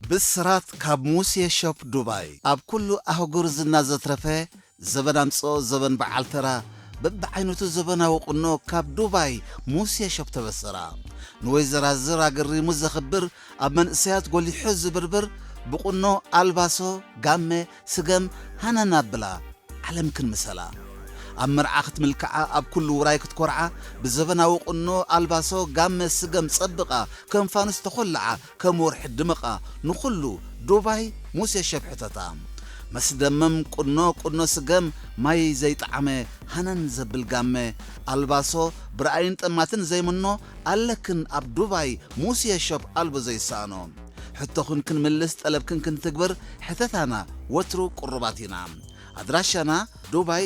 ብስራት ካብ ሙሴ ሾፕ ዱባይ ኣብ ኩሉ ኣህጉር ዝና ዘትረፈ ዘበን ኣምጽኦ ዘበን በዓል ተራ በብዓይነቱ ዘበናዊ ቁኖ ካብ ዱባይ ሙሴ ሾፕ ተበሰራ ንወይዘራዝር ኣገሪሙ ዘኽብር ኣብ መንእሰያት ጎሊሑ ዝብርብር ብቁኖ ኣልባሶ ጋመ ስገም ሃነን ኣብላ ዓለምክን ምሰላ ኣብ መርዓ ክትምልክዓ ኣብ ኩሉ ውራይ ክትኮርዓ ብዘበናዊ ቁኖ ኣልባሶ ጋመ ስገም ጸብቓ ከም ፋኑስ ተኾልዓ ከም ወርሒ ድምቓ ንኹሉ ዱባይ ሙሴ ሸብሕተታ መስደመም ቁኖ ቁኖ ስገም ማይ ዘይጠዓመ ሃነን ዘብል ጋመ ኣልባሶ ብረኣይን ጠማትን ዘይምኖ ኣለክን ኣብ ዱባይ ሙስየ ሾፕ ኣልቦ ዘይሰኣኖ ሕቶኽን ክንምልስ ጠለብክን ክንትግብር ሕተታና ወትሩ ቁሩባት ኢና ኣድራሻና ዱባይ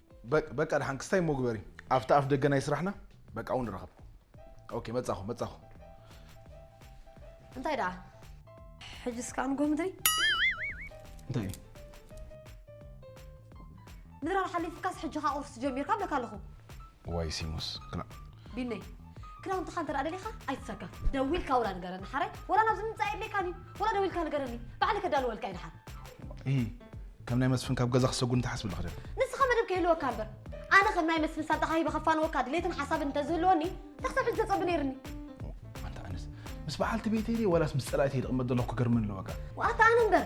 በቅ በቃ ድሓን ክስታይ እሞ ግበሪ ኣብቲ ኣፍ ደገ ናይ ስራሕና በቃ እውን ንራኸብ ኦኬ መጻኹ መጻኹ እንታይ ደኣ ሕጂ እስካ ንጎ ምድሪ እንታይ እዩ ምድራር ሓሊፍካስ ሕጂ ከኣ ቁርሲ ጀሚርካ ብለካ ኣለኹ ዋይ ሲሙስ ክላ ቢነይ ክዳውንትኻ እንተ ደሊኻ ኣይትሰከፍ ደዊልካ ወላ ንገረኒ ሓራይ ወላ ናብዚ ምምፃእ የድልየካን እዩ ወላ ደዊልካ ንገረኒ ባዕሊ ከዳልወልካ እዩ ድሓር እይ ከም ናይ መስፍን ካብ ገዛ ክሰጉን ተሓስብ ልኽደን ንስኻ መደብ ከይህልወካ እምበር ኣነ ከም ናይ መስፍን ሳንጣኻ ሂበ ከፋንወካ ድሌትን ሓሳብን እንተዝህልወኒ ተክሰብ ሕጂ ተፀቢ ነይርኒ ኣንተ ኣነስ ምስ በዓልቲ ቤተይ ድየ ዋላስ ምስ ፀላእተይ ድቕመጥ ዘለኹ ክገርመኒ ኣለወካ ዋኣታ ኣነ እምበር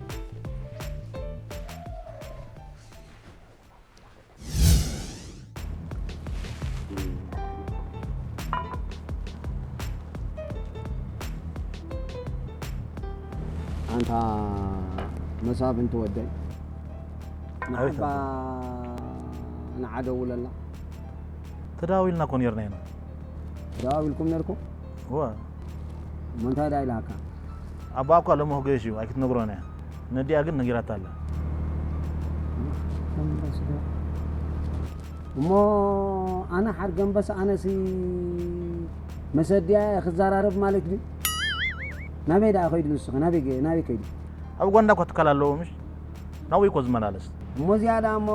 ኣንታ መሳፍንቲ ወደይ ንዓባ ንዓ ደውለላ ተዳዊልና እኮ ነርና ኢና ተዳዊልኩም ነርኩም እወ። እሞ እንታይ ድኣ ኢላካ? ኣቦኣ እኳ ሎሚ ክገይሽ እዩ ኣይክትነግሮን እያ ነዲኣ ግን ነጊራታ ኣላ። ሓርገምበስዶ እሞ ኣነ ሓርገምበስ ኣነሲ መስ ኣዲኣ እየ ክዛራረብ ማለት ድዩ ናበይ ድኣ ከይዱ ንሱከ ናበይ ናበይ ከይዱ። ኣብ ኡጋንዳ እኳ ትካል ኣለዎ ምሽ ናብኡ እዩ እኮ ዝመላለስ። እሞ እዚኣ ድኣ እሞ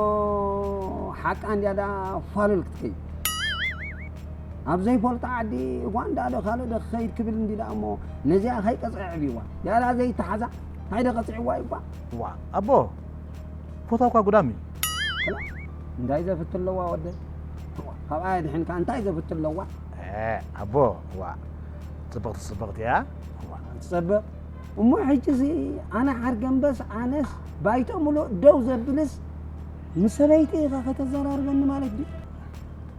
ሓቃ እንድያ ድኣ ፋሉል ክትከይድ። ኣብ ዘይፈልጦ ዓዲ ኡጋንዳ ዶ ካልእ ዶ ክኸይድ ክብል እንዲ ደኣ እሞ ነዚኣ ከይቀጽዐ ኣዕብይዋ ያላ ዘይተሓዛ እንታይ ዶ ቀጺዕዋ እዩ እኳ ዋ ኣቦ ፎቶ እኳ ጉዳም እዩ ክላ እንታይ ዘፍት ኣለዋ ወደ ካብኣ የድሕንካ እንታይ ዘፍት ኣለዋ ኣቦ ዋ ጽብቕቲ ጽብቕቲ እያ ትጸብቕ እሞ ሕጂዚ ኣነ ሓርገምበስ ኣነስ ባይቶ ምሉእ ደው ዘብልስ ምስ ሰበይቲ ኢኻ ከተዘራርበኒ ማለት ድዩ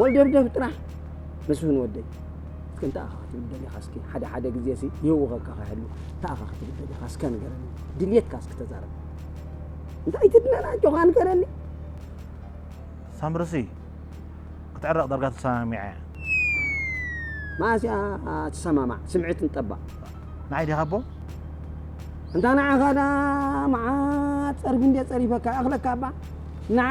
ወልደብደብ ጥራሕ መስፍን ወደይ እስከ እንታይ ኣኻ ክትብል ደሊኻ እስኪ ሓደ ሓደ ግዜ ሲ ይህውኸካ ከይሃሉ እንታይ ኣኻ ክትብል ደሊኻ እስከ ንገረኒ ድልየትካ እስኪ ተዛረብ እንታይ ትድለና ጆኻ ንገረኒ ሳምርሲ ክትዕረቕ ዳርጋ ተሰማሚዐ እየ መዓስ እያ ትሰማማዕ ስምዒት ንጠባቕ ንዓይ ዲኻ ኣቦ እንታ ንዓኻ ዳ መዓት ጸርፊ እንዴ ጸሪፈካ እኽለካ እባ ንዓ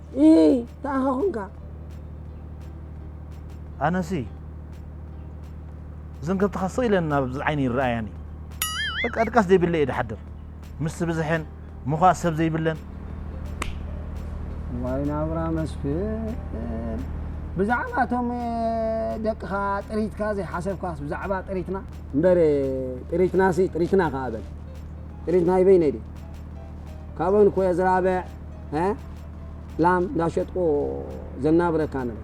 እይ ተኣኻ ኹንካ ኣነሲ እዘን ከብትኻ ስቕ ኢለን ናብ ዓይኒ ይረኣያኒ በቃ ድቃስ ዘይብለ እየ ድሓድር ምስ ብዝሐን ምዃእ ሰብ ዘይብለን ዋይ ናብራ መስፍን ብዛዕባ እቶም ደቅኻ ጥሪትካ ዘይሓሰብካስ ብዛዕባ ጥሪትና እምበር ጥሪትና ሲ ጥሪትና ከዓ በል ጥሪትና ይበይነ ድዩ ካብኦን ኮየ ዝራብዕ ላም እንዳሸጥቁ ዘናብረካ ነበ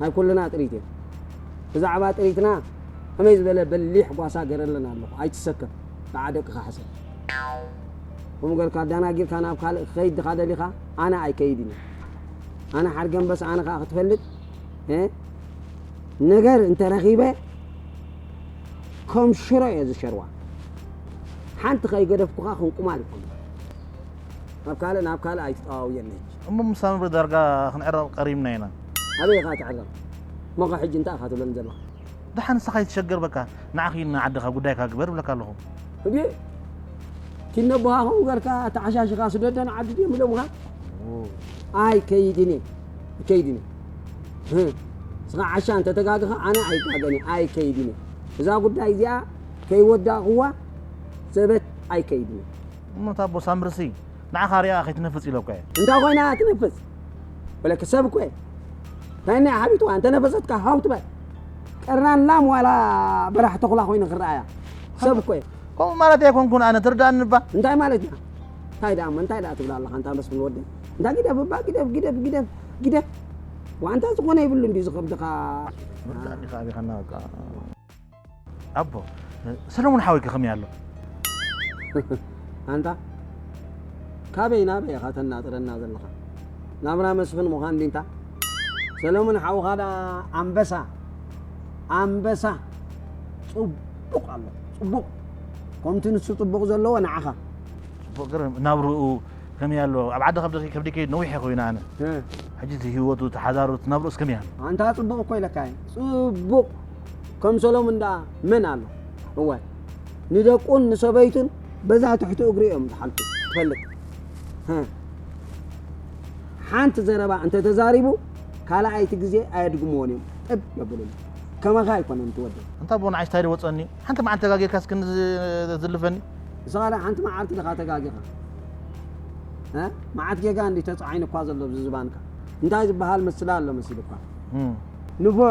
ናይ ኩልና ጥሪት እየ ብዛዕባ ጥሪትና ከመይ ዝበለ በሊሕ ጓሳ ገረለን ኣለኹ ኣይትሰከፍ ከዓ ደቅኻ ሕሰ ከምኡ ገርካ ኣዳናጊርካ ናብ ካልእ ክኸይድ ድኻ ደሊኻ ኣነ ኣይከይድ ዩ ኣነ ሓርገንበስ ኣነ ከዓ ክትፈልጥ ነገር እንተረኺበ ከም ሽሮ እየ ዝሸርዋ ሓንቲ ከይገደፍኩኻ ክንቁማል ይኮኑ ካብ ካልእ ናብ ካልእ ኣይትጠዋውየን ነች። እሞ ምስ ሳምሪ ዳርጋ ክንዕረቕ ቀሪብና ኢና። ኣበይ ኢኻ ትዕረቕ ሞኸ ሕጂ እንታይ ኢኻ ትብለኒ ዘለኻ። ደሓን ንስኻ ኣይትሸገር በቃ ንዓ ኪድ ንዓድኻ ጉዳይካ ግበር እብለካ ኣለኹ። እዴ ኪድ ነቦኻ ከምኡ ገርካ ኣተዓሻሽኻ ስደዶ ንዓዲ ድዮም ኢሎምኻ። ኣይ ከይድን እየ እከይድን እየ ህ ንስኻ ዓሻ እንተ ተጋግኻ ኣነ ኣይጋገን እየ ኣይ ከይድን እየ እዛ ጉዳይ እዚኣ ከይወዳእኽዋ ሰበት ኣይ ከይድን እየ። እሞ እታ ኣቦ ሳምርሲ ንዓኻ ሪኣ ከይትነፍጽ ኢለኳ እየ። እንታይ ኮይና እያ ትነፍጽ በለኪ ሰብ እኮ እየ እንታይ እኒኣ ሓቢጥዋ እንተነፈጸትካ ሃው ትበል ቀርናን ላም ዋላ በራሕ ተኹላ ኮይኑ ክረኣ እያ ሰብ እኮ እየ ከምኡ ማለት ኣይኮንኩን ኣነ ትርዳእኒ እባ እንታይ ማለት እያ እንታይ ደኣ እሞ እንታይ ደኣ ትብላ ኣለኻ እንታ መስፍን ወደይ እንታ ግደፍ እባ ግደፍ ግደፍ ግደፍ ግደፍ ዋንታ ዝኾነ ይብሉ እንዲ ዝኸብድኻ ምርዳእኒ ከኣቢኻና በቃ ኣቦ ሰለሙን ሓወይ ከኸመይ ኣሎ ኣንታ ካበይ ናበይ ኢኻ ተናጥረና ዘለኻ ናብራ መስፍን ምዃን ዲንታ ሰለሙን ሓውኻ ደኣ ኣንበሳ ኣንበሳ ጽቡቕ ኣሎ ጽቡቕ ከምቲ ንሱ ጽቡቕ ዘለዎ ንዓኻ ጽቡቕ ገርም ናብርኡ ከመይ ኣሎ ኣብ ዓዲ ከብዲ ከብዲ ከይድ ነዊሕ ኮይና ኣነ ሕጂ እቲ ህይወቱ ተሓዳሩ ናብርኡስ ከመይ ኣሎ ኣንታ ጽቡቕ እኮ ኢለካ ጽቡቕ ከም ሰሎሙን ደኣ መን ኣሎ? እወ ንደቁን ንሰበይቱን በዛ ትሕቲ እግሩ እዮም ዝሓልፉ ትፈልጥ። ሓንቲ ዘረባ እንተ ተዛሪቡ ካልኣይቲ ግዜ ኣየድግምዎን እዮም ጥብ የብሉሉ። ከማኻ ኣይኮነን እቲ ወደይ። ኣንታ ኣቦ ንዓይስ ታይ ወጸኒ ሓንቲ መዓልቲ ተጋጊርካስ ክንዲ ዝልፈኒ። ንስኻ ደኣ ሓንቲ መዓልቲ ድኻ ተጋጊኻ መዓት ጌጋ እንዲ ተጻዒኑኳ ዘሎ ዝባንካ እንታይ ዝበሃል ምስላ ኣሎ መሲሉኳ ንፉዕ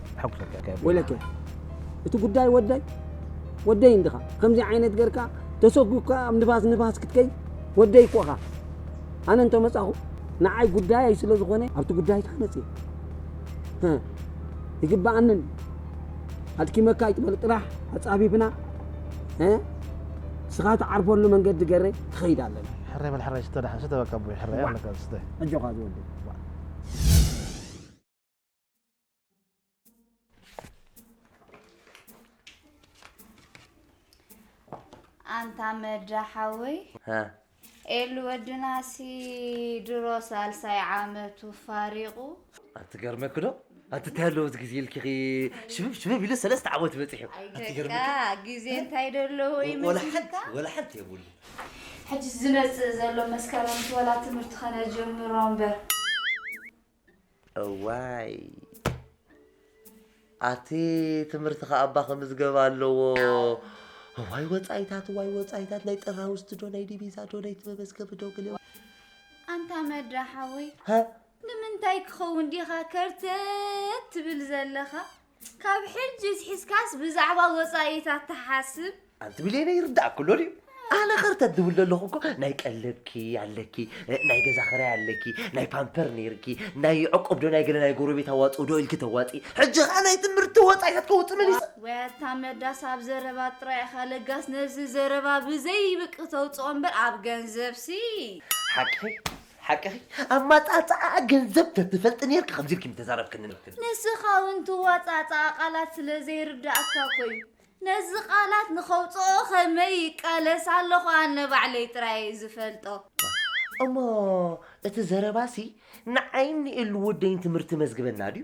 ሕጉሰት እያ ከየብለካ። ወይለከ እቲ ጉዳይ ወደይ ወደይ እንድኻ ከምዚ ዓይነት ገርካ ተሰጉግካ ኣብ ንፋስ ንፋስ ክትከይ ወደይ እኮ እኻ ኣነ እንተመጻኹ ንዓይ ጉዳይ ስለ ዝኾነ ኣብቲ ጉዳይ ታነጽ እየ ይግባኣንን ኣድኪመካ ይትበል ጥራሕ ኣጻፊፍና ስኻ ትዓርፈሉ መንገዲ ገረ ክኸይድ ኣለና ሕረ በል ሕረ ሽተ ዳሓን ሽተ በቃ ኣቦይ ሕረ ኣለካ ሽተ ኣጆኻ ዝወደ ኣንታ መዳ ሓወይ ኤሉ ወድናሲ ድሮ ሳልሳይ ዓመቱ ፋሪቑ ኣትገርመኪ ዶ ኣትታይ ኣለዎ እዚ ግዜ ኢልኪኺ ሽብብ ሽብብ ኢሉ ሰለስተ ዓመት በፂሑ ግዜ እንታይ ደለዎ ይመስልካ ወላ ሓንቲ የብሉ ሕጂ ዝመፅእ ዘሎ መስከረም ወላ ትምህርቲ ከነጀምሮ እምበር እዋይ ኣቲ ትምህርቲ ከ ኣባ ክምዝገብ ኣለዎ ዋይ ወፃኢታት ዋይ ወፃኢታት ናይ ጥራ ውስጥ ዶ ናይ ዲቪዛ ዶ ናይ መመዝገቢ ዶ ግል ኣንታ መድራ ሓወይ ንምንታይ ክኸውን ዲኻ ከርተት ትብል ዘለኻ ካብ ሕጂ ዝሒዝካስ ብዛዕባ ወጻኢታት ትሓስብ? ኣንቲ ብሌነ ይርዳእኪ ኣሎ ድዩ? ኣነ ከርተ ዝብል ዘለኹ እኮ ናይ ቀለብኪ ኣለኪ፣ ናይ ገዛ ክራይ ኣለኪ፣ ናይ ፓምፐር ነይርኪ፣ ናይ ዕቁብ ዶ ናይ ገለ ናይ ጎረቤት ኣዋጽኡ ዶ ኢልኪ ተዋጺ፣ ሕጂ ከኣ ናይ ትምህርቲ ወጻኢታት ከውጽእ መሊሰ። ወይ ኣታ መዳስ ኣብ ዘረባ ጥራይ ኢኻ ለጋስ ነዚ ዘረባ ብዘይብቅ ተውጽኦ እምበር ኣብ ገንዘብሲ ሓቂ ሓቅኺ ኣማጻጽኣ ገንዘብ ተትፈልጢ ኔርኪ ከምዚ ኢልኪ ምተዛረብክኒ ነይርኪ። ንስኻ ውን ትዋጻጻኣ ቃላት ስለ ዘይርዳኣካ እኮ ዩ ነዚ ቃላት ንኸውጽኦ ከመይ ይቃለስ ኣለኹ ኣነ ባዕለይ ጥራይ እየ ዝፈልጦ። እሞ እቲ ዘረባሲ ንዓይን ንኤሉ ወደይን ትምህርቲ መዝግበና ድዩ?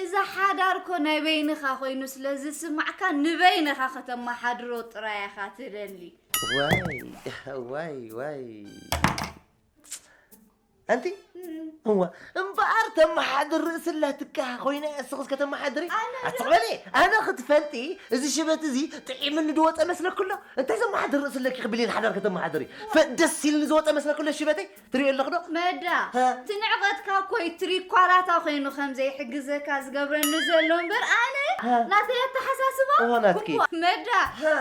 እዚ ሓዳር እኮ ናይ በይንኻ ኮይኑ ስለ ዝስማዕካ ንበይንኻ ከተመሓድሮ ጥራይ ኢኻ ትደሊ። ዋይ ዋይ ዋይ ኣንቲ እዋ እምበኣር ተመሓድር ርእሲ ኣላትካ ኮይነ እስኽስ ከተመሓድሪ ኣትቕበሊ ኣነ ክትፈልጢ እዚ ሽበት እዚ ጥዒምኒ ዝወፀ መስለክሎ እንታይ ዘመሓድር ርእሲ ኣለኪ ክብሊን ሓዳር ከተመሓድሪ ደስ ኢልኒ ዝወፀ መስለክሎ ሽበተይ ትሪኦ ኣለኽ ዶ? መዳ እቲ ንዕቐትካ እኮ እዩ ትሪኳላታ ኮይኑ ከም ዘይሕግዘካ ዝገብረኒ ዘሎ እምበር ኣነ ናተይ ኣተሓሳስባ እዎ ናትኪ። እሞ መዳ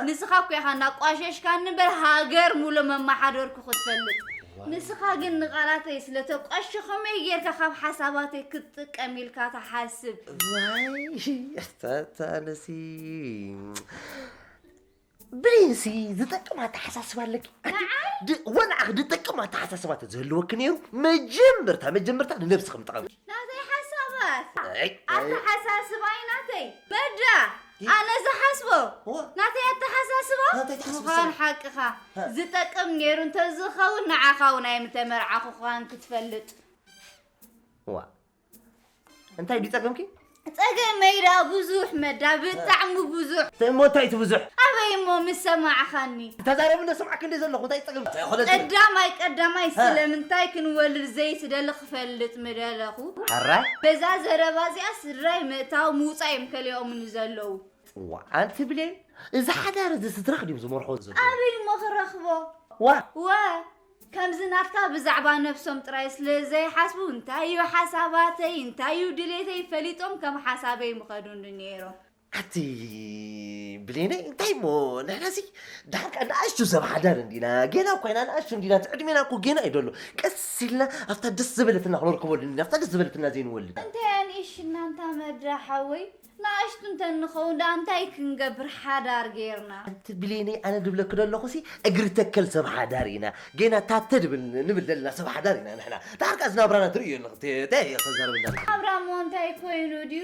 ንስኻ እኮ ኢኻ እናቋሸሽካኒ እምበር ሃገር ሙሉእ መመሓደርኩ ክትፈልጥ ንስኻ ግን ንቓላተይ ስለተቋሸ ከመይ ጌርካ ካብ ሓሳባተይ ክትጥቀም ኢልካ ትሓስብ ዋይ ኣታ ኣታ ኣነሲ ብእሲ ዝጠቅም ኣተሓሳስባ ኣለኪ ኣንቲ ወንዓኺ ዝጠቅም ኣተሓሳስባ ተዝህልወኪ ነይሩ መጀመርታ መጀመርታ ንነብስኺ ምጠቐምኪ ናተይ ሓሳባት ኣተሓሳስባይ ናተይ በዳ ኣነ ዝሓስቦ ናተይ ኣተሓሳስባ ምዃን ሓቅኻ ዝጠቅም ነይሩ እንተዝኸውን ንዓኻ እውን ኣይምተመርዓኹ ኳን ክትፈልጥ ዋ እንታይ ድዩ ጸገምኪ? ጸገመይ ደኣ ብዙሕ መዳ ብጣዕሚ ብዙሕ እሞ እንታይ እቲ ብዙሕ ኣበይ እሞ ምስ ሰማዕኻኒ ተዛረብ እንደ ሰማዕክ እንደ ዘለኹ እንታይ ጸገም ቀዳማይ ቀዳማይ ስለምንታይ ክንወልድ ዘይትደሊ ክፈልጥ ምደለኹ ሕራይ በዛ ዘረባ እዚኣ ስድራይ ምእታው ምውፃእ እዮም ከሊኦምኒ ዘለዉ ጽዋ ኣንቲ ብሌን እዚ ሓዳር እዚ ስድራኽ ድዮም ዝመርሖ ዘሎ ኣበይ እሞ ክረኽቦ ዋ ዋ ከምዚ ናትካ ብዛዕባ ነብሶም ጥራይ ስለ ዘይሓስቡ እንታይ ዩ ሓሳባተይ እንታይ ዩ ድሌተይ ፈሊጦም ከም ሓሳበይ ምኸዱኒ ኔሮም። ኣቲ ብሌነይ እንታይ እሞ ንሕና ሲ ድሓር ከኣ ንኣሽቱ ሰብ ሓዳር እንዲና ጌና እኳ ኢና ንኣሽቱ እንዲና እቲ ዕድሜና እኮ ጌና እዩ ደሎ ቀስ ኢልና ኣብታ ደስ ዝበለትና ክነርከበሉ እንዲና ኣብታ ደስ ዝበለትና ዘይንወልድ እንታይ ኣንኢሽና እንታ መዳ ሓወይ ናእሽቱ እንተ ንኸውን ደኣ እንታይ ክንገብር ሓዳር ጌርና። ኣንቲ ብሌነይ ኣነ ድብለኪ ደለኹሲ እግሪ ተከል ሰብ ሓዳር ኢና ጌና ታተ ድብል ንብል ደለና ሰብ ሓዳር ኢና ንሕና ደሓር ከኣ እዚ ናብራና ትርእዮ ኣለኺ ታይ እየ ከዛረበኒ ደለኹ። ናብራ እሞ እንታይ ኮይኑ ድዩ።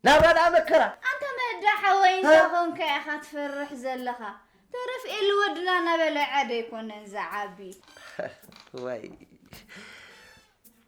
ናብራ ደኣ መከራ። ኣንታ መዳ ሓወይ እንታይ ኮንካ ኢኻ ትፈርሕ ዘለኻ ተረፍ ኤሊ ወድና እናበልዐ ዶ ኣይኮነን ዝዓቢ። ዋይ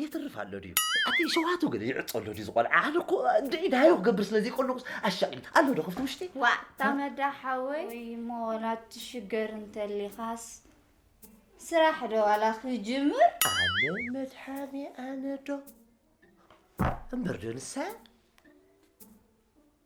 የትርፍ ኣሎ ድዩ ኣቲ ሸዋቱ ግን ይዕጾ ኣሎ ድዩ ዝቆልዓ ኣነ እኮ ድዒ ዳዮ ክገብር ስለ ዘይቆልቁስ ኣሻቂል ኣሎ ዶ ክፍቲ ውሽጢ ዋእ ታመዳ ሓወይ ወይ ሞላት ትሽገር እንተሊኻስ ስራሕ ዶ ዋላ ክጅምር ኣነ መድሓኒ ኣነ ዶ እምበር ዶ ንሳ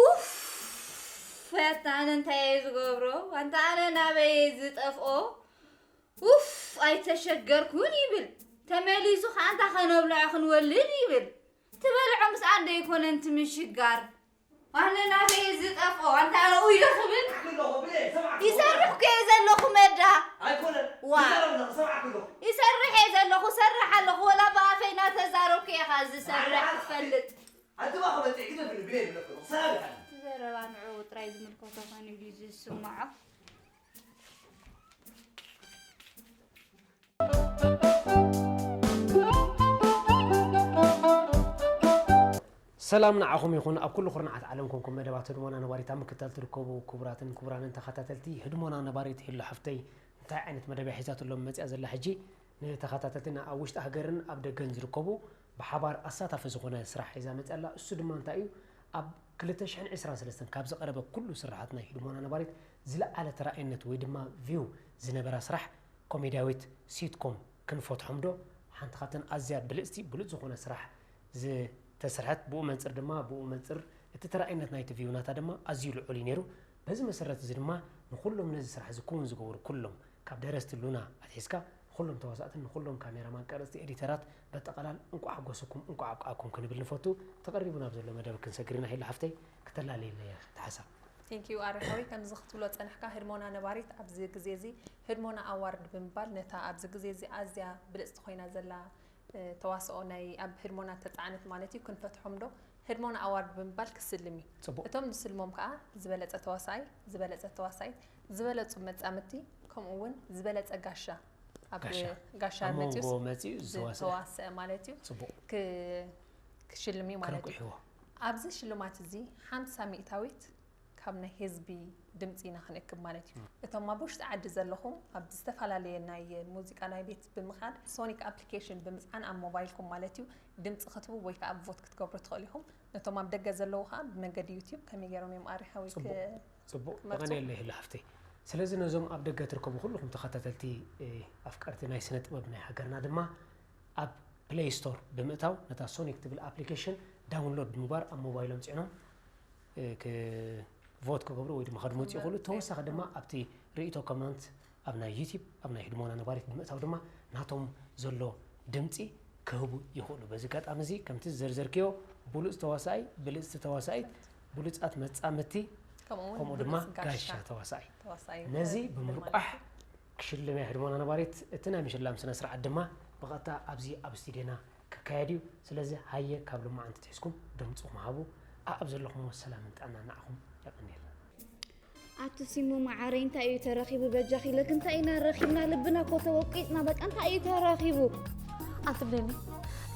ኡፍ ኣታ ኣነ እንታይ እየ ዝገብሮ ኣንታ ኣነ ናበይ እየ ዝጠፍኦ ኡፍ ኣይተሸገርኩን ይብል ተመሊሱ ከዓ ኣንታ ከነብልዖ ክንወልድ ይብል ትበልዖ ምስ ኣደ ይኮነን ትምሽጋር ኣነ ናበይ እየ ዝጠፍኦ ኣንታ ኣነ ኡዮ ክብል ይሰርሕ ኮ እየ ዘለኹ መዳ ዋ ይሰርሕ እየ ዘለኹ ሰርሕ ኣለኹ ወላ ብኣፈይ እናተዛረብኩ እየ ከዓ ዝሰርሕ ትፈልጥ ኣንትባ ክበጥዕ ግደ ብሉ ብለይ ብለክ ኣለኹ ሰላም ይሓልፍ። እቲ ዘረባ ንዕኡ ጥራይ ዝምልከቶ ኮይኑ ድዩ ዝስምዖ? ሰላም ንዓኹም ይኹን ኣብ ኩሉ ኩርናዓት ዓለም ኮንኩም መደባት ህድሞና ነባሪት ኣብ ምክታል ትርከቡ ክቡራትን ክቡራንን ተኸታተልቲ ህድሞና ነባሪት ሄሎ ሓፍተይ እንታይ ዓይነት መደብ እያ ሒዛትሎም መፅያ ዘላ ሕጂ ንተኸታተልትና ኣብ ውሽጢ ሃገርን ኣብ ደገን ዝርከቡ ብሓባር ኣሳታፊ ዝኾነ ስራሕ ሒዛ መፂኣ ኣላ። እሱ ድማ እንታይ እዩ? ኣብ ክልተ ሽሕን ዕስራን ሰለስተን ካብ ዝቐረበ ኩሉ ስርሓት ናይ ህድሞና ነባሪት ዝለዓለ ተራኣይነት ወይ ድማ ቪው ዝነበራ ስራሕ ኮሜድያዊት ሲትኮም ክንፈትሖም ዶ? ሓንቲ ካብተን ኣዝያ ብልፅቲ ብሉፅ ዝኾነ ስራሕ ዝተሰርሐት ብኡ መንፅር ድማ ብኡ መንፅር እቲ ተራኣይነት ናይቲ ቪው ናታ ድማ ኣዝዩ ልዑል እዩ ነይሩ። በዚ መሰረት እዚ ድማ ንኹሎም ነዚ ስራሕ እዚ ክውን ዝገበሩ ኩሎም ካብ ደረስቲ ሉና ኣትሒዝካ ንኹሎም ተዋሳእትን ንኹሎም ካሜራማን ቀረፅቲ ኤዲተራት በጠቐላል እንቋዕ ሓጎሰኩም እንቋዕ ኣብቃዓኩም ክንብል ንፈቱ ተቐሪቡ ናብ ዘሎ መደብ ክንሰግር ኢና ሄሉ ሓፍተይ ክተላልየለይ ኢኺ እቲ ሓሳብ። Thank you ኣሪ ሓወይ ከምዚ ክትብሎ ዝጸናሕካ ህድሞና ነባሪት ኣብዚ ግዜ እዚ ህድሞና ኣዋርድ ብምባል ነታ ኣብዚ ግዜ እዚ ኣዝያ ብልጽቲ ኮይና ዘላ ተዋስኦ ናይ ኣብ ህድሞና እተጻዕነት ማለት እዩ ክንፈትሖም ዶ ህድሞና ኣዋርድ ብምባል ክስልም እዩ ጽቡቅ እቶም ዝስልሞም ከኣ ዝበለጸ ተዋሳኣይ ዝበለጸት ተዋሳኢት ዝበለጹ መጻምድቲ ከምኡ ውን ዝበለጸ ጋሻ ኣብ ጋሻ መፅኡ ዝተዋሰአ ማለት እዩ ክሽልም እዩ ማለት እዩ ኣብዚ ሽልማት እዚ ሓምሳ ሚእታዊት ካብ ናይ ህዝቢ ድምፂ ኢና ክንእክብ ማለት እዩ እቶም ኣብ ውሽጢ ዓዲ ዘለኹም ኣብ ዝተፈላለየ ናይ ሙዚቃ ናይ ቤት ብምኻድ ሶኒክ ኣፕሊኬሽን ብምፅዓን ኣብ ሞባይልኩም ማለት እዩ ድምፂ ክትቡ ወይ ከዓ ቮት ክትገብሩ ትኽእሉ ኢኹም ነቶም ኣብ ደገ ዘለዉ ከዓ ብመንገዲ ዩትዩብ ከመይ ገይሮም እዮም ኣሪሓዊ ጽቡቅ ተቀንየለይ ህሊ ሃፍተይ ስለዚ ነዞም ኣብ ደገ ትርከቡ ኩሉኹም ተኸታተልቲ ኣፍቀርቲ ናይ ስነ ጥበብ ናይ ሃገርና ድማ ኣብ ፕለይ ስቶር ብምእታው ነታ ሶኒክ ትብል ኣፕሊኬሽን ዳውንሎድ ብምግባር ኣብ ሞባይሎም ጽዕኖም ክ ቮት ክገብሩ ወይ ድማ ከድመፁ ይኽእሉ ተወሳኺ ድማ ኣብቲ ርእቶ ኮመንት ኣብ ናይ ዩቲብ ኣብ ናይ ህድሞና ነባሪት ብምእታው ድማ ናቶም ዘሎ ድምጺ ክህቡ ይኽእሉ። በዚ ኣጋጣሚ እዚ ከምቲ ዝዘርዘርክዮ ብሉጽ ተዋሳኢ፣ ብልጽቲ ተዋሳኢት፣ ብሉጻት መጻምድቲ ከምኡ ድማ ጋሻ ተዋሳኢ ነዚ ብምርቋሕ ክሽልም እያ ህድሞና ነባሪት። እቲ ናይ ምሽላም ስነ ስርዓት ድማ ብቐጥታ ኣብዚ ኣብ ስቱድዮና ክካየድ እዩ። ስለዚ ሃየ ካብ ልማዓንቲ ትሒዝኩም ድምጽኹም ሃቡ። ኣኣብ ዘለኹሞ ሰላምን ጥዕናን ንዓኹም የቐንየልና። ኣቲ ሲሙ መዓረይ እንታይ እዩ ተረኺቡ በጃኺ ለክ እንታይ ኢና ረኺብና ልብና እኮ ተወቂጥና በቃ እንታይ እዩ ተረኺቡ ኣትብለኒ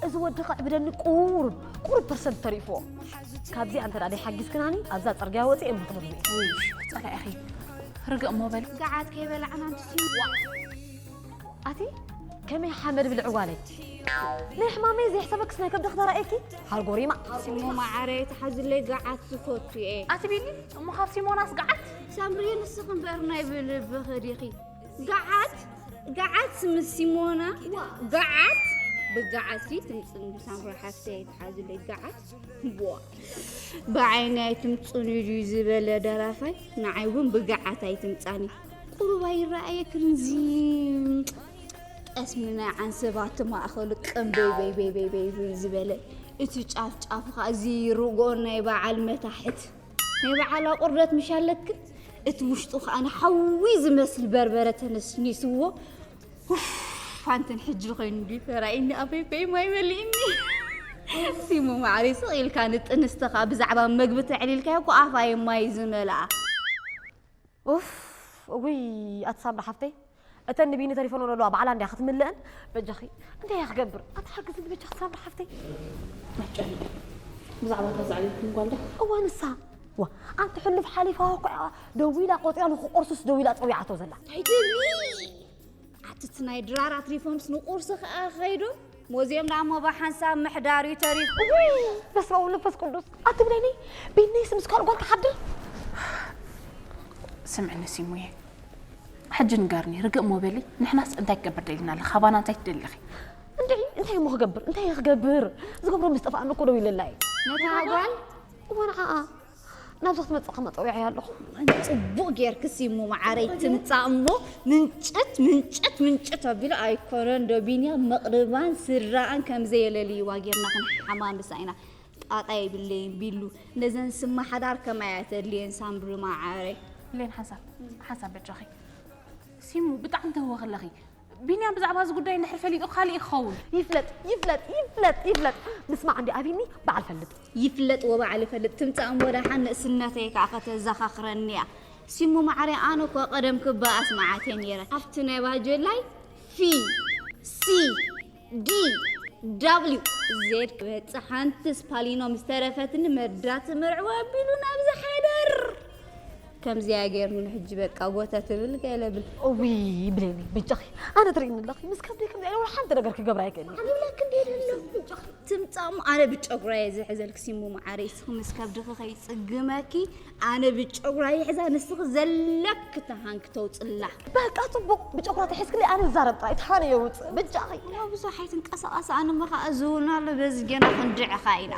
እዚ ወዲ ከዕብደኒ ቁሩብ ቁሩብ ፐርሰንት ተሪፍዎ ካብዚ ኣንተ ዳኣ ሓጊዝክናኒ ኣብዛ ፅርግያ ወፂ እየ ምክትሉ ፀላኢ ኣኺ ርግእ እሞ በል ገዓት ከይበላዕና ንስዩ ኣቲ ከመይ ሓመድ ብልዕ ጓለይ ናይ ሕማመይ ዘይሕሰበክስ ናይ ከብዲ ክተራእየኪ ሃርጎሪማ ስሙ መዓረይ ተሓዝለይ ገዓት ዝፈቱ እየ ኣቲ ቢኒ እሞ ካብ ሲሞናስ ገዓት ሳምሪ ንስኺ እምበር ናይ ብልብኺ ዲኺ ገዓት ገዓት ምስ ሲሞና ገዓት ብገዓት ሲ ትምፅን ሳምሪ ሓፍተይ ኣይትሓዝለይ ገዓት ቦ ብዓይኒ ኣይትምፅን እዩ ድዩ ዝበለ ደራፋይ ንዓይ እውን ብገዓት ኣይትምፃኒ ቁሩብ ኣይረኣየክን እዚ ጠስሚ ናይ ዓንሰባት ማእኸሉ ቀምበይ በይ በይ በይ በይ ዝበለ እቲ ጫፍ ጫፍ ኸዓ እዚ ርጎ ናይ በዓል መታሕት ናይ በዓላ ቁርደት ምሽ ኣለክን እቲ ውሽጡ ከዓ ንሓዊ ዝመስል በርበረ ተነስኒስዎ ፋንትን ሕጂ ኮይኑ እንዲ ተራእኒ ኣፈይፈይ ማይ መሊእኒ ሲሙ ማዕሪ ስቕ ኢልካ ንጥንስተኻ ብዛዕባ መግቢ ተዕሊልካዮ እኮ ኣፋየ ማይ ዝመልኣ ኡፍ እውይ ኣትሳምራ ሓፍተይ እተን ንቢኒ ተሪፈንኦ ዘለዋ ባዕላ እንድያ ክትምልእን። በጃኺ እንታይ እየ ክገብር ኣታ ሓግዝኒ በጃኺ ሳምሪ ሓፍተይ። ኣጨንቂ ብዛዕባ እታ ዘዕበየትኩም ጓል ዶ? እወ ንሳ ዋ ኣንቲ ሕሉፍ ሓሊፋ እኮ እያ ደዊላ ቆፂራ ንክቆርሱስ ደዊላ ፀዊዓቶ ዘላ። ኣይትብሊ ኣቲ እቲ ናይ ድራር ኣትሪፎምስ ንቁርሲ ከኣ ከይዶም ሙዝየም ዳሞ ብሓንሳብ ምሕዳር'ዩ ተሪፉ። እውይ በስመ ኣብ ወመንፈስ ቅዱስ ኣትብለኒ ቤነይስ ምስ ካልእ ጓል ክሓድር ስምዕኒ ሲሙየ ሕጂ ንገርኒ ርግእ እሞ በሊ ንሕናስ እንታይ ክገብር ደሊና ኣለ ካባና እንታይ ትደሊ ኢኺ እንድዒ እንታይ እሞ ክገብር እንታይ ክገብር ዝገብሮ ምስ ጠፍኣኒ እኮ ደው ኢለላ እዩ ነታ ጓል እወ ንዓኣ ናብዚ ክትመጽእ ከማ ጸዊዐያ ኣለኹ። ጽቡቕ ጌርክሲ እሞ መዓረይ ትምጻእ እሞ ምንጭት ምንጭት ምንጭት ኣቢሉ ኣይኮነን ዶ ቢንያም መቕርባን ስድራኣን ከም ዘየለልይዋ ጌርና ክንሓማምሳ ኢና። ጣጣ የብለይን ቢሉ ነዘን ስማ ሓዳር ከማይ እያ ተድልየን ሳምሪ መዓረይ። ብሌን ሓንሳብ ሓንሳብ በጃኺ ሲሙ ብጣዕሚ ተህወኺ ኣለኺ ቢንያም ብዛዕባ እዚ ጉዳይ እንድሕር ፈሊጡ ካልእ እዩ ክኸውን። ይፍለጥ ይፍለጥ ይፍለጥ ይፍለጥ ምስማዕ እንድዩ ኣቢኒ በዓል ፈልጥ። ይፍለጥ ወበዓል ይፈልጥ ትምጻእ እሞ ደሓን ንእስነተይ ከኣ ከተዛኻኽረኒ እያ ሲሙ ማዓረይ ኣነ እኳ ቀደም ክባ ኣስማዓትየ ኔረ ኣብቲ ናይ ባጀላይ ፊ ሲ ዲ ዳብሊው ዜድ ክበጽሕ ሓንቲ ስፓሊኖ ምስ ተረፈትኒ መርዳት መርዕዋ ኣቢሉ ናብዚ ሓዳር ከምዚያ ገይርኒ ሕጂ በቃ ጎተ ትብል ገለ ብል እውይ ብሌኒ ብጃኺ ኣነ ትርእይኒ ኣለኺ ምስ ከብደይ ከምዚ ኣይነበረ ሓንቲ ነገር ክገብራ ኣይክእልኒ ዓብላ ክንደይ ደሎ ትምጻእ እሞ ኣነ ብጨጉራ እየ ዝሕዘልኪ ሲሙ መዓረይ እስኺ ምስ ከብድኺ ከይጽግመኪ ኣነ ብጨጉራ ይሕዛ ንስኺ ዘለኪ ተሃን ክተውጽላ። በቃ ጽቡቅ ብጨጉራ ተሒዝክለይ ኣነ ዝዛረብ ጥራይ ተሃን የውጽእ በጃኺ። እሞ ብዙሕ ኣይትንቀሳቐሲ ኣነሞ ከኣ ዝውና ኣሎ በዚ ገና ክንድዕኻ ኢና።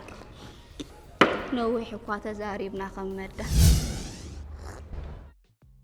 ነዊሕ እኳ ተዛሪብና ከም መዳ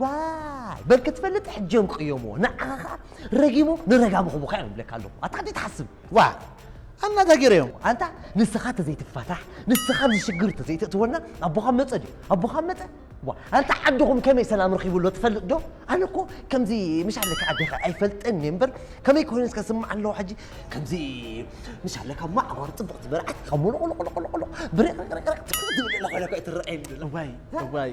ዋይ በል ክትፈልጥ ሕጂ እዮም ቅየምዎ ንዓኻ ከዓ ረጊሞ ንረጋሚ ክቡካ እዮም ይብለካ ኣለኹ ኣታ ሕጂ ትሓስብ ዋ ኣናታ ገይረዮም ኣንታ ንስኻ ተዘይትፋታሕ ንስኻ ኣብዚ ሽግር ተዘይትእትወና ኣቦኻ መፀ ድዩ ኣቦኻ መፀ ዋ ኣንታ ዓድኹም ከመይ ሰላም ረኺቡ ኣሎ ትፈልጥ ዶ ኣነ እኮ ከምዚ ምሽ ኣለካ ዓደኻ ኣይፈልጥን እየ እምበር ከመይ ኮይኑ እስከ ስማዕ ኣለዎ ሕጂ ከምዚ ምሽ ኣለካ እሞ ዓጓር ፅብቕቲ መርዓት ካብ ሙሉቑሉቑሉቑሉቑ ብርቕርቕርቕ ትብል ዘላ ኮይነ እኮ ኣይትረኣየኒ ዘላ እዋይ እዋይ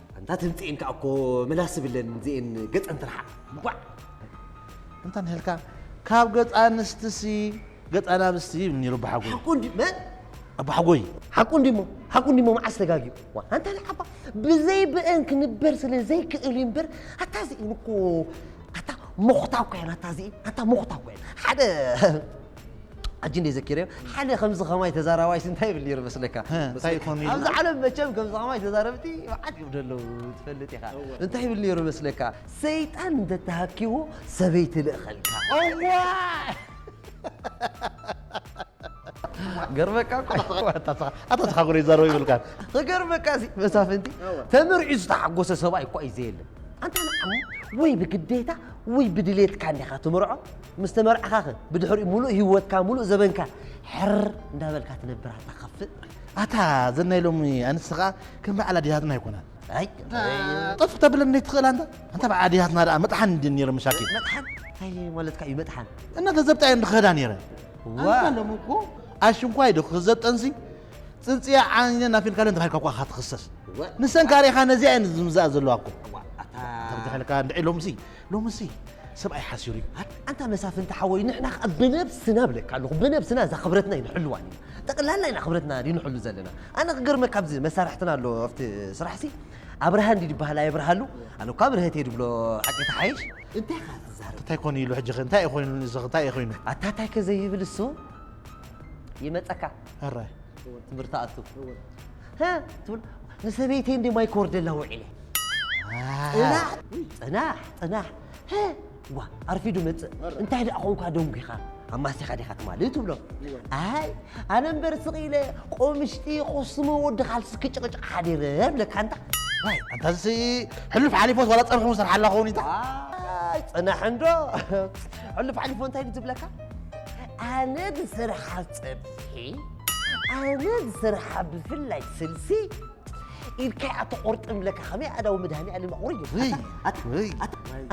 ኣንታ ትምጽኤን ከኣ እኮ ምላስ ዝብለን ዝኤን ገጸን ትርሓቕ እንቋዕ እንታ ንህልካ ካብ ገጽ ኣንስትሲ ገጽ ኣናብስቲ ይብል ነይሩ ኣቦሓጎይ ሓቁ እንዲ መን ኣቦሓጎይ ሓቁ እንዲሞ ሓቁ እንዲሞ መዓስ ተጋጊዩ ኣንታ ንዓባ ብዘይ ብእን ክንበር ስለ ዘይክእል እዩ እምበር ኣታ እዚኤን እኮ ኣታ ሞኽታ እኮ እየን ኣታ እዚኤን ኣታ ሞኽታ እኮ እየን ሓደ ሕጂ እንደ ዘኪረዮ ሓደ ከምዚ ከማይ ተዛራባይ እንታይ ይብል ነይሩ መስለካ እንታይ ይኾን ኢልና? ኣብዚ ዓለም መቸም ከምዚ ከማይ ተዛረብቲ መዓት ይብሉ ኣለዉ ትፈልጥ ኢኻ እንታይ ይብል ነይሩ መስለካ ሰይጣን እንተተሃኪዎ ሰበይቲ ልእኸልካ ገርመካ እኮ ኣታ ተሓጉረ ይዛረቡ ይብልካን ክገርመካ እዚ መሳፍንቲ ተመርዒ ዝተሓጎሰ ሰብኣይ እኳ እዩ ዘየለ ኣንታ ንዓሙ ወይ ብግዴታ ወይ ብድሌትካ እንዲኻ ትምርዖ ምስ ተመርዕኻኸ ብድሕሪኡ ሙሉእ ሂወትካ ሙሉእ ዘበንካ ሕር እንዳበልካ ትነብር ኣታ ከፍእ። ኣታ ዘን ናይ ሎሚ ኣንስቲ ከኣ ከም በዓል ኣዴታትና ኣይኮናን። ኣይ ጠፍ ክተብለን ዘይትኽእል ኣንታ ኣንታ በዓል ኣዴታትና ደኣ መጥሓን እንድየን ነይረን መሻኪን። መጥሓን እንታይ ማለትካ እዩ መጥሓን? እና ገዘብጣ እየን ዝኸዳ ነይረን። እዋ ኣንታ ሎሚ እኮ ኣሽንኳይ ዶ ክዘብ ጠንሲ ጽንጽያ ዓንየን ኣፊልካለን ተባሂልካ እኳ ኢኻ ትኽሰስ። እወ ንሰን ከኣ ርኢኻ ነዚኣ እየን ዝምዝኣ ዘለዋ እኮ። እዋ ኣታ ተብድሐልካ እንድዒ ሎምሲ ሎምሲ ሰብኣይ ሓሲሩ እዩ። ኣንታ መሳፍንቲ ሓወይ ንሕና ከኣ ብነብስና እብለካ ኣለኹ ብነብስና እዛ ክብረትና ኣይንሕልዋን ኢና ጠቅላላ ኢና ክብረትና ንሕሉ ዘለና ኣነ ክገርመካ ኣብዚ መሳርሕትና ኣሎ ኣብቲ ስራሕሲ ኣብርሃ እንዲ ድበሃል ኣየብርሃሉ ኣለኳ ብርሀት እየ ድብሎ ሓቂ ተሓይሽ እንታይ ኸ ትዛረብ እንታይ ኮን ኢሉ ሕጂ እንታይ እዩ ኮይኑ እዚ እንታይ እዩ ኮይኑ ኣታ እንታይ ከ ዘይብል እሱ ይመፀካ ኣራይ ትምህርቲ ኣቱ ትብል ንሰበይተይ እንደ ማይ ክወርደላ ውዒለ ጽናሕ ጽናሕ ጽናሕ ሀ ዋ ኣርፊዱ መጽእ እንታይ ደኣ ኾንካ ደንጒኻ ኣማሲኻ ዲኻ ትማሊ ትብሎ ኣይ ኣነ እምበር ስቕ ኢለ ቆምሽጢ ኮስሞ ወዲ ካልሲ ክጭቕጭቕ ሓዲረ ብለካ እንታ ዋይ ኣንታ እዚ ሕሉፍ ሓሊፎስ ዋላ ጸርሑ ሰርሓ ኣላ ኸውን ኢታ ኣይ ጽናሕ እንዶ ሕሉፍ ሓሊፎ እንታይ እዩ ዝብለካ ኣነ ዝሰርሓ ጸብሒ ኣነ ዝሰርሓ ብፍላይ ስልሲ ኢድካይ ኣተቆርጥም ለካ ከመይ ኣዳዊ መድሃኒኣለም ኣቑሪዶ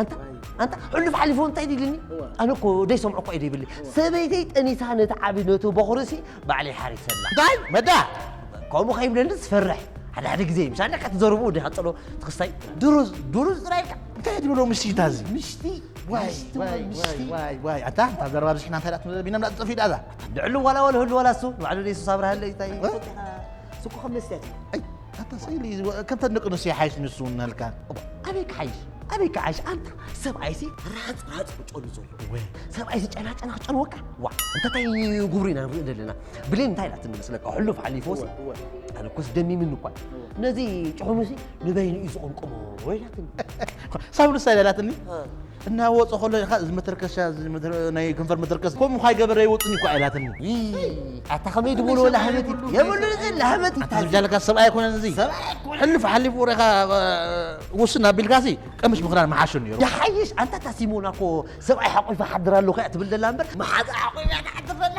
ኣንታ ኣንታ ሕሉፍ ሓሊፉ እንታይ ድልኒ ኣነ እኮ ደይሰምዖ እኳ ኢደ ይብሊ ሰበይተይ ጠኒሳ ነቲ ዓብዪ ነቱ በኹርሲ ባዕለይ ሓሪሰላ ዳይ መዳ ከምኡ ከይብለኒ ዝፈርሕ ሓደ ሓደ ግዜ ምሻ ኣለካ ትዘርቡ ወዲ ሃፀሎ ትክስታይ ድሩዝ ድሩዝ ጥራይ ኢልካ እንታይ ትብሎ ምሽታ እዚ ምሽቲ ዋይ ኣታ እንታ ዘረባ ብዝሕና እንታይ ዳት ቢና ምላ ጠፊኡ ዳዛ ልዕሉ ዋላ ዋላ ህሉ ዋላ እሱ ባዕሉ ደይሱስ ኣብርሃለይ እንታይ ስኩ ከም መስለት እዩ ኣይ ኣታ ሰይሊ ከምተን ደቂ ኣንስትዮ ይሓይሽ ንሱ እናልካ እባ ኣበይ ክሓይሽ ኣበይ ክሓይሽ ኣንታ ሰብኣይሲ ራፅ ራፅ ክጨሉ ዘሎ ወይ ሰብኣይሲ ጨናጨና ክጨልወካ ዋ እንታታይ ጉብሩ ኢና ንርኢ ዘለና ብሌን እንታይ ኢላትኒ መስለካ ሕሉፍ ሓሊፎስ ኣነ ኮስ ደሚምኒ እኳ ነዚ ጭሑሙሲ ንበይኑ እዩ ዝቕምቅሞ ኢላትኒ ሳብ ንሳ ኢላትኒ እናወጸ ከሎ ኢኻ እዚ መተርከሻ እዚ መተር- ናይ ከንፈር መተርከስ ከምኡ ኳይ ገበረ ይወጽኒ እኳ ኢላትኒ ይይ፣ ኣታ ከመይ ድብሎ ላህበት እዩ። የብሉን እዚ ላህበት እዩ። ኣታ ዝብጃለካ ሰብኣይ ኣይኮነን እዚ ሕልፍ ሓሊፉ ወሬኻ ውስን ኣቢልካሲ ቀምሽ ምኽዳን ምሓሾ ነይሩ ይሓይሽ ኣንታ እታ ሲሞና እኮ ሰብኣይ ሓቑፋ ሓድር ኣለኹ እያ ትብል ዘላ እምበር መሓዛ ሓቑፋ እያ ትሓድር ዘላ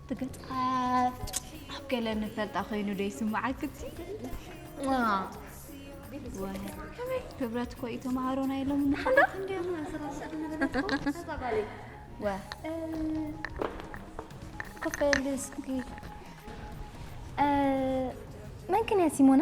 እቲ ገጻት ኣብ ገለ ንፈልጣ ኮይኑ ዶ ይስምዓክቲ ከመይ ክብረት እኮ እዩ ተምሃሮ ናይ ሎም ንሓላት እንዲያና ወ ክፈል እስኪ መን ክን እያ ሲሞና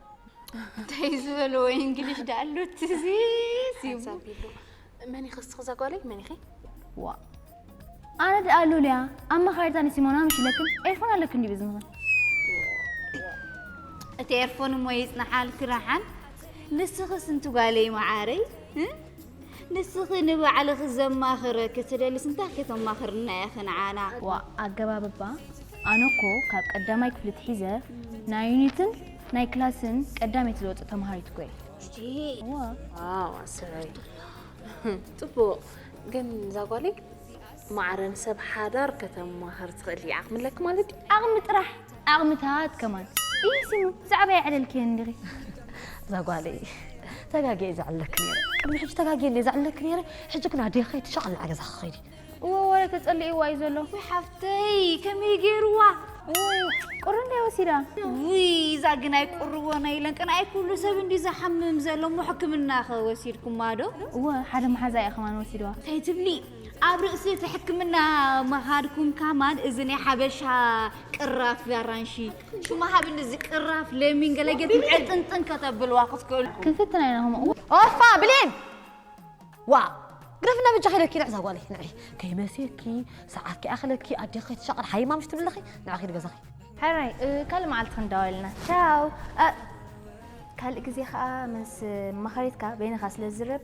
እንታይ ዝበልዎ እንግሊሽ ዳኣሉ ትዚ ሓንሳቢሉ መን ኢኺ እስኺ ዘጓለይ መን ኢኺ ዋ ኣነ ደኣ ሉልያ ኣማኻሪት ኣነ ሲሞና ምሽ ለክን ኤርፎን ኣለክ እንዲ ብዝምኽን እቲ ኤርፎን እሞ ይጽናሓልኪ ረሓን ንስኽስ እንትጓለይ መዓረይ ንስኺ ንባዕልኺ ዘማኽረኪ ትደልስ እንታይ ከተማኽርና ኢኺ ንዓና? ዋእ ኣገባብባ ኣነ እኮ ካብ ቀዳማይ ክፍሊ ትሒዘ ናይ ዩኒትን ናይ ክላስን ቀዳመይቲ ዝወጽእ ተማሃሪት እኮ እየ። ዋው ኣሰይ ጽቡቅ ግን እዛ ጓለይ ማዕረ ንሰብ ሓዳር ከተማህር ትኽእል እያ ዓቅሚ ኣለኪ ማለት ድዩ። ዓቅሚ ጥራሕ ዓቅምታት ከማን ኢሂ ሲሙ ብዛዕባይ ኣዕለልክየን ዲኺ። እዛ ጓለይ ተጋግየ እየ ዘዕልለኪ ነይረ ቅድሚ ሕጂ ተጋግየ እንድየ ዘዕልለኪ ነይረ ሕጂ ግን ኣደይ ከይዲ ሸቀል ናብ ገዛኺ ከይዲ። እወ ወረ ተጸሊእዋ እዩ ዘሎ። ውይ ሓፍተይ ከመይ ገይርዋ ቁሪ እንድያ ወሲዳ። ውይ እዛ ግን ኣይቁርዎ ናይ ኢለን ቅንኣይ ኩሉ ሰብ እንድዩ ዝሓምም ዘሎ እሞ ሕክምና ከ ወሲድኩማ ዶ። እወ ሓደ መሓዛይ እያ ከማን ወሲድዋ። እንታይ ትብሊ ኣብ ርእሲ እቲ ሕክምና ምኻድኩም ካማን እዚ ናይ ሓበሻ ቅራፍ ኣራንሺ ሹማ ሃብኒ እዚ ቅራፍ ለሚን ገለ ጌርኩም ዕጥንጥን ከተብልዋ ክትክእሉ ክንፍትና ኢና ከምኡ ኦፋ ብሌን ዋ ግረፍና ብጃ ከይደልኪ ንዕዛ ጓለይ ንዕይ ከይመስየኪ ሰዓት ከይኣኸለኪ ኣዴኺ ከይትሻቐል ሓይ ማምሽ ትብለኺ ንዕ ከይድ ገዛኺ ሕራይ ካልእ መዓልቲ ክንዳወልና ቻው ካልእ ግዜ ከዓ ምስ መኻሪትካ በይንኻ ስለ ዝዝረብ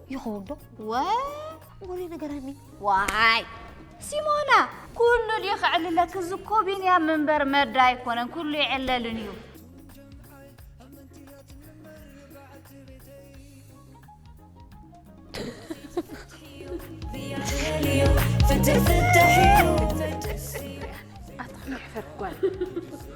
ይኸውን ዶ? ዋይ ወሬ ነገራኒ ዋይ ሲሞና ኩሉ ድዩ ክዕልለክ? እዚ እኮ ቢንያም እምበር መዳ ኣይኮነን፣ ኩሉ ይዕለልን እዩ። ፍትሕ ፍትሕ እዩ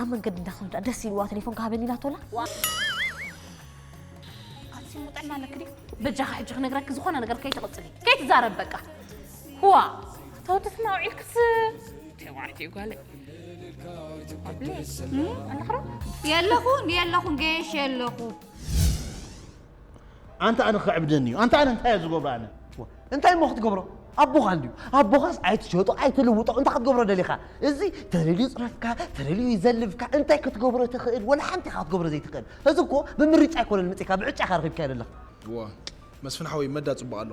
ኣብ መንገዲ እንዳኸዱ ደስ ኢልዋ ቴሌፎን ክሃበኒ ኢላቶላ ኣንስሞ ጥዕና ኣለኪ ድዩ በጃኺ ሕጂ ክነግረኪ ዝኾነ ነገር ከይትቕፅሊ ከይትዛረብ በቃ ህዋ ተወደትና ውዒልክስ ተባዕቲ ጓለይ ኣለኽሮ የለኹን የለኹን ገየሽ የለኹ ኣንተ ኣነ ክዕብደኒ እዩ ኣንተ ኣነ እንታይ እየ ዝገብሮ ኣነ እንታይ እሞ ክትገብሮ ኣቦኻ እንድዩ ኣቦኻስ ኣይትሸጦ ኣይትልውጦ እንታይ ክትገብሮ ደሊኻ እዚ ተለልዩ ፅረፍካ ተለልዩ ይዘልፍካ እንታይ ክትገብሮ ትኽእል ወላ ሓንቲ ኢኻ ክትገብሮ ዘይትኽእል እዚ እኮ ብምርጫ ኣይኮነን ምፅካ ብዕጫኻ ረኺብካዮ ዘለኻ ዋ መስፍን ሓወይ መዳ ፅቡቅ ኣሎ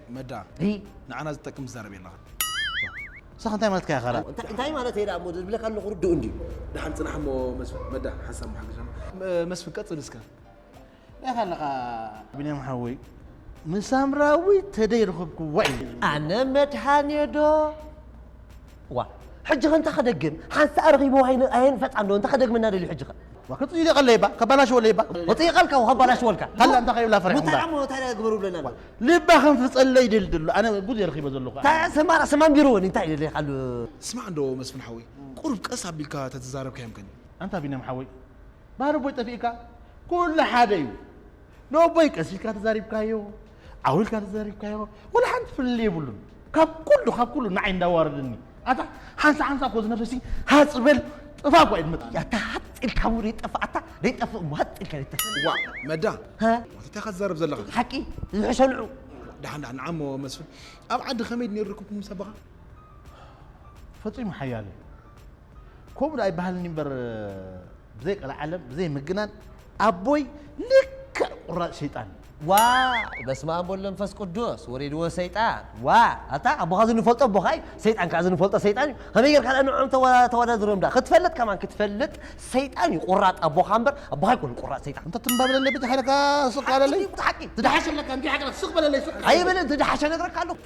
መዳ ንዓና ዝጠቅም ትዛረብ የለኻን ንስኻ እንታይ ማለትካ ኢኻ ኸላ እንታይ ማለት እየ እሞ ዝብለካ ኣለኹ ርድኡ እንድዩ ድሓን ፅናሕ እሞ መስፍን መዳ ሓሳብ መሓገሻ መስፍን ቀፅል እስከ ኢኻ ኣለኻ ብንያም ሓወይ ንሳምራዊ ተደይ ረኸብክዋ እዩ ኣነ መድሃንየ ዶ ዋ ሕጂ ከ እንታ ከደግም ሓንሳእ ረኺብዎ ኣየን ፈፃም ዶ እንታ ከደግመና ደልዩ ሕጂ ከ ክፅይቀለይባ ከባላሽወለይባ ወፅይቀልካ ከባላሽወልካ ታላ እንታይ ከይብላ ፈሪሕኩም እንታይ ግበሩ ብለና ልባ ከም ፍጸለ ይደሊ ደሎ ኣነ ጉድ እየ ረኪበ ዘለኩ ኣነ። እታ ስማ ርእሲ ማንቢሮ ወን እንታይ ደሊካ ኣሎ። ስማዕ እንዶ መስፍን ሓወይ ቁሩብ ቀስ ኣቢልካ ተትዛረብ ከ የምከን። ኣንታ ቢንያም ሓወይ ባህሪ ኣቦይ ጠፊእካ ኩሉ ሓደ እዩ ንኣቦይ ቀስ ኢልካ ተዛሪብካዮ ዓው ኢልካ ተዛሪብካዮ ዋላ ሓንቲ ፍልልይ የብሉን ካብ ኩሉ ካብ ኩሉ ንዓይ እንዳዋረደኒ ኣታ ሓንሳ ሓንሳ እኮ ዝነፈሲ ሃፅ በል ጥፋ እኳ እዩ ዝመፅእ ኣታ ሃፅ ኢልካ እሞ ዘይጠፍእ ኣታ ዘይጠፍእ እሞ ሃፅ ኢልካ ዘይጠፍእ ዋ መዳ እንታይ ኢኻ ትዛረብ ዘለኻ ሓቂ ዝሕሸልዑ ድሓን ድሓን ንዓሞ መስፍን ኣብ ዓዲ ከመይ ነይሩ ርክብኩም ምስ ኣቦኻ ፈፂሙ ሓያለ ከምኡ ዳኣ ይበሃልኒ እምበር ብዘይ ቀልዓለም ብዘይ ምግናን ኣቦይ ልክዕ ቁራፅ ሸይጣን እዩ ዋይ በስማኣም ወወልድ ወመንፈስ ቁዱስ ወሪድዎ ሰይጣን ዋይ ኣታ ኣቦኻ ዝንፈልጦ ኣቦኻ እዩ ሰይጣን ካኣ ዝንፈልጦ ሰይጣን እዩ ከመይ ጌርካ ዳኣ ንዕዖም ተዋዳድሮም ዳኣ ክትፈልጥ ከማን ክትፈልጥ ሰይጣን እዩ ቁራጽ ኣቦኻ እምበር ኣቦኻ ኣይኮነን ቁራጽ ሰይጣን ኣንታ ትም በለለይ በጃካ ኢለካ ስቅ በለለይ ሓቂ ትደሓሸለካ እንድዩ ሓቂ ስቅ በለለይ ስቅ ኣይብልን ትደሓሸ ነግረካ ኣለኹ።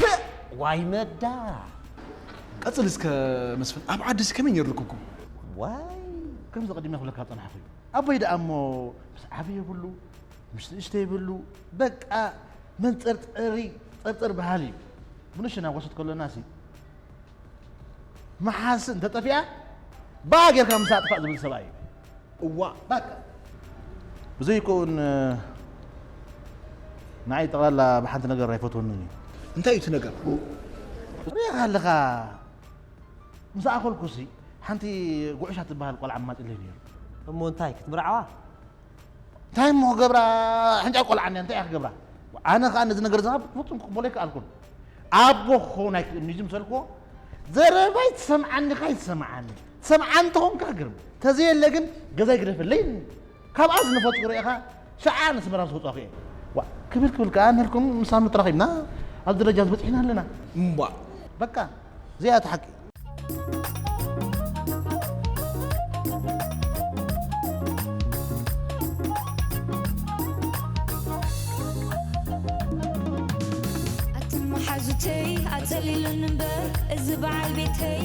ፐእ ዋይ መዳ ቀጽል እስከ መስፍን ኣብ ዓዲ ከመይ ነይሩ ርክብኩም? ዋይ ከምዚ ቀዲመ ክብለካ ዝጸናሕኩ እዩ ኣቦይ ደኣ እሞ ምስ ዓቢ ይብሉ ምስ ንእሽተ ይብሉ በቃ መንጸርጸሪ ጸርጸር በሃሊ እዩ ምንሽ ናጎሰት ከሎና ሲ መሓስ እንተጠፊኣ ባህ ጌርካ ምስ ኣጥፋእ ዝብል ሰብኣይ እዩ እዋእ ባቃ ብዘይ ኮኡን ንዓይ ጠቅላላ ብሓንቲ ነገር ኣይፈትወንን እዩ። እንታይ እዩ እቲ ነገር? ርኢኻ ኣለኻ ምስ ኣኸልኩሲ ሓንቲ ጉዕሻ ትበሃል ቆልዓ ኣማጺለይ ነይሩ። እሞ እንታይ ክትምርዓዋ? እንታይ እሞ ክገብራ ሕንጫ ቆልዓ እንድያ እንታይ እያ ክገብራ? ኣነ ከኣ ነዚ ነገር እዚ ከኣ ብፍጹም ክቕበሎ ኣይከኣልኩን። ኣቦ ክኸውን ኣይክእልን እዩ ዝምሰልክዎ ዘረባይ ትሰምዓኒ ከኣ ኣይትሰምዓንን። ሰብዓ እንተኾንካ ግርም ተዘየለ ግን ገዛይ ግደፈለይ ካብኣ ዝነፈጥኩ ርኢኻ ሸዓ ነስመራ ምስ ወጻኹ እየ ዋእ ክብል ክብል ከኣ ንህልኩም ምሳኑ ተራኺብና ኣብ ደረጃ ዝበጽሕና ኣለና እምቧእ በቃ እዚኣ እቲ ሓቂ ኣቲ መሓዙተይ ኣጸሊሉኒ እምበር እዚ በዓል ቤተይ